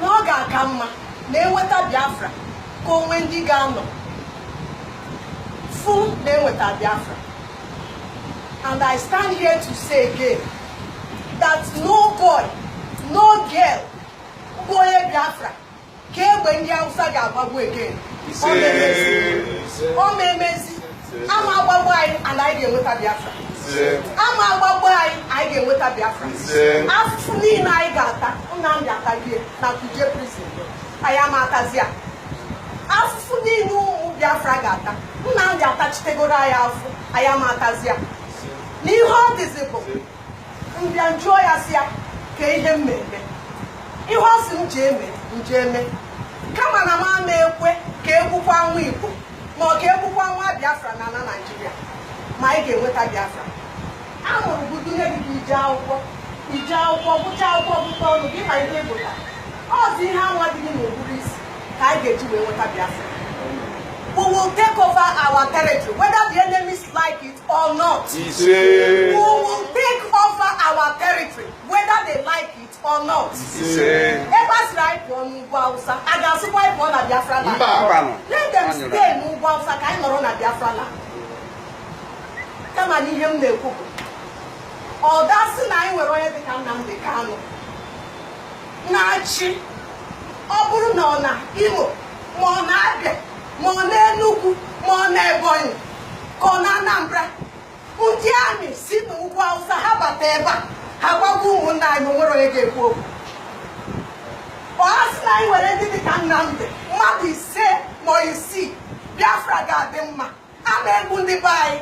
na ọ ga-aka mma na enweta Biafra ka o nwee ndị ga-anọ fụ na enweta Biafra and I stand here to say again that no boy no girl bụ onye Biafra ka egbe ndị Hausa ga-agbagbu again ọ ma-emezi ama agbagbu anyị and anyị ga-enweta Biafra ama agbagbu anyị anyị ga-enweta Biafra afụfụ niile anyị ga-ata Nnamdi atagide na Kuje prison anyị ama atazi ya afụfụ niile ụmụ Biafra ga-ata Nnamdi atachitegoro anyị afụ anyị ama atazi ya n'ihe ọ dịzi bụ m bịa njụọ ya sị ya kee ihe m ma-eme ihe ọ sị m ji eme m je eme kama na m ama ekwe ka egbukwa nwa igbo ma ọ ka egbukwa nwa biafra na ala naijiria ma anyị ga-enweta biafra a mụrụ gị dunye gị ka i jee akwụkwọ i jee akwụkwọ gụcha akwụkwọ gụta ọnụ gị ma ihe ị gụta ọzi ihe anwa dị gị n'ụbụrụ isi ka anyị ga-eji wee nweta biafra we will take over our territory whether the enemies like it or not. Ise. We will take over our territory whether they like it or not. Ise. Ebe a sịrị anyị pụọ n'ugwu Awụsa, a ga-asịkwa anyị pụọ na Biafra land. Mba. Let them stay n'ugwu Awụsa ka anyị nọrọ na Biafra land. Kama na ihe m na-ekwu bụ ọ dasị na anyị nwere onye dịka Nnamdi Kanu na-achị ọ bụrụ na ọ na Imo ma ọ na Abịa ma ọ n'Enugwu ma ọ n'Ebonyi ka ọ na Anambra ndị army si n'ugwu Hausa ha bata ebe a ha gbagbuo ụmụnna anyị o nwere onye ga-ekwu okwu ọ ha sị na anyị nwere ndị dịka Nnamdi mmadụ ise ma isii Biafra ga-adị mma ama egbu ndị be anyị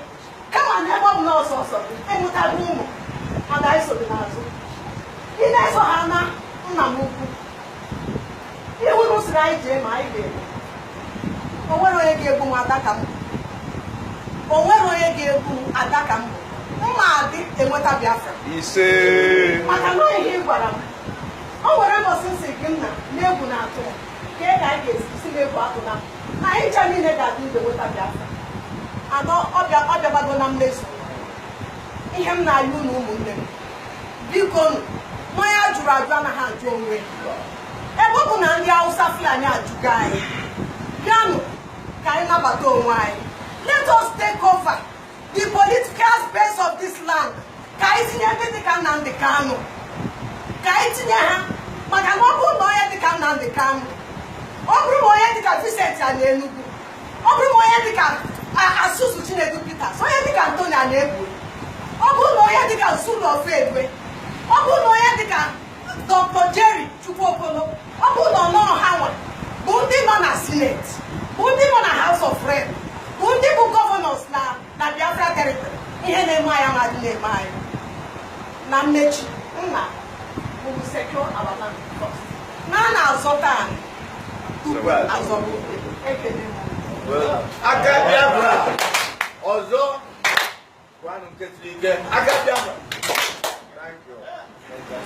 kama na ebe ọ bụ na ọsọ ọsọ i wetago ụmụ ada anyị so gị n'azụ ị na-eso ha na nna m ukwu ihe unu sịrị anyị jee mee anyị ga-eme o nwere onye ga-egbu m Adaka mm o nwere onye ga-egbu m Adaka mmụ ma-adị enweta biafra ise maka na ihe ị gwara m o nwere mbọsị m sị gị nna na egwu na-atụ ka ị ga-aga esi sị na egwu atụna anyị ncha niile ga-adị ndụ nweta Biafra anọ ọ bịa ọ bịabago na mmezu ihe m na-ayọ unu ụmụnne m bikonụ na onye a jụrụ ajụ anaghị ajụ onwe ya ebe ọ bụ na ndị Hausa Fulani ajụgo anyị bịanụ ka anyị nabata onwe anyị let us take over the political space of this land ka anyị tinye ndị dịka Nnamdi Kanu ka anyị tinye ha maka na ọ bụrụ na onye dịka Nnamdi Kanu ọ bụrụ na onye dịka Vincent a na Enugwu ọ bụrụ na onye dịka Asuzu Chinedu Peters onye dịka Anthony Anegbu ọ bụrụ na onye dịka Zulu of Egbe ọ bụrụ na onye dịka Dr. Jerry Chukwuokolo ọ bụ na ọ nọ ha nwa bụ ndị nọ na Senate bụ ndị nọ na House of Rep bụ ndị bụ governors na na Biafra territory ihe na-eme anyị ama adị na-eme anyị na mmechi nna unu secure our land first na a na-azọta anị tupu a zọba ute kele m aka biafra ọzọ gwanụ nke siri ike aka biafra Thank you.